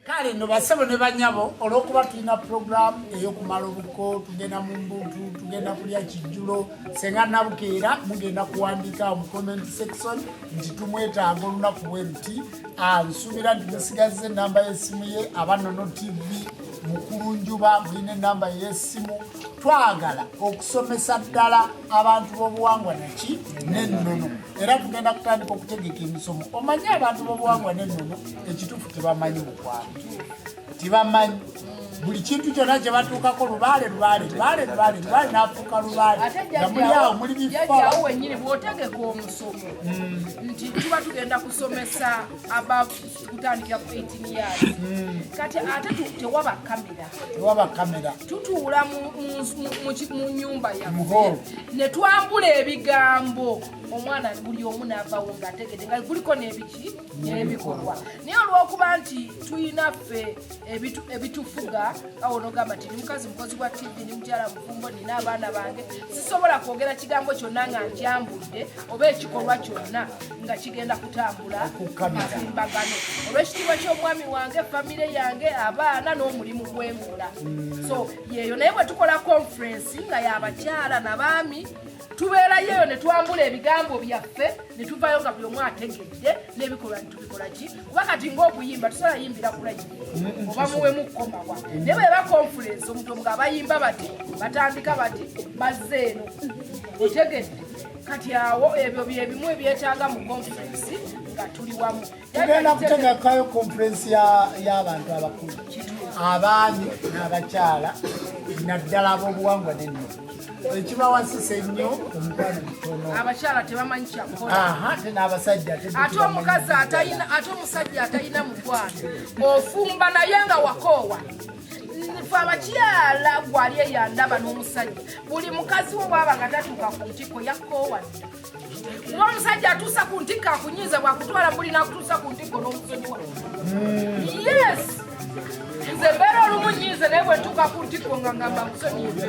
kale no basebo ne banyabo olwokuba tulina puroguramu eyokumala obuko tugenda mu mbutu tugenda kulya kijjulo senga nabukeera mugenda kuwandika mu comment section nti tumwetaaga olunaku bwe luti ah, nsuubira nti musigaza enamba yesimu ye abanono tv mukulu njuba mulina enamba yesimu twagala okusomesa ddala abantu b'obuwangwa naki nennono era tugenda kutandika okutegeka emisomo omanyi abantu bobuwangwa nenono ekituufu tebamanyi mukwano tebamanyi buli kintu kyona kyebatuukako lubaale lubaale lubaale lubaale lubaale nafuuka lubaale namuliawo muli bifaawo wenyini bwotegeka omusomo hmm. nti tuba tugenda kusomesa tutandikira ku 18 years hmm. kati ate tewaba kamera tewaba kamera tutuula mu nyumba yaffe ne twambula ebigambo omwana buli omu naavawo ng'ategede nga guliko n'ebiki n'ebikolwa naye olw'okuba nti tulina ffe ebitufuga awo nogamba nti nimukazi mukozi wa tv ni mukyala mufumbo nina abaana bange sisobola kwogera kigambo kyonna nga nkyambudde oba ekikolwa kyonna nga kigenda kutambula matimbagano olwekitiibwa ky'omwami wange famire yange abaana n'omulimu gwengula so yeeyo naye bwe tukola conferensi nga yabakyala nabaami tubeerayo eyo ne twambula ebigambo byaffe ne tuvayo nga buli omu ategedde n'ebikolwa ne tubikola ki kuba kati ng'okuyimba tusobola yimbira kulayi oba muwemu kukomawa naye bwe bakonfulensi omuntu omu nga bayimba bati batandika bati bazze eno otegedde kati awo ebyo bye bimu ebyetaaga mu konfulensi nga tuli wamu tugenda kutegekayo konferensi y'abantu abakulu abaami n'abakyala naddala ab'obuwangwa nenno ekibawasisa ennyo omukwano mutonoabakyala tebamanyi kyakolate n'abasajja ate omukazi ate omusajja atalina mukwano ofumba naye nga wakoowa fe abakyala gwali eyandaba n'omusajja buli mukazi wo bwaba nga tatuuka ku ntiko yakkoowadda kuba omusajja atuusa ku ntikko akunyiiza bwakutwala muli nakutuusa ku ntikko n'omusonyiwa yes nze mbeera olumu nyiize naye bwentuuka ku ntikko nga ngamba musonyiize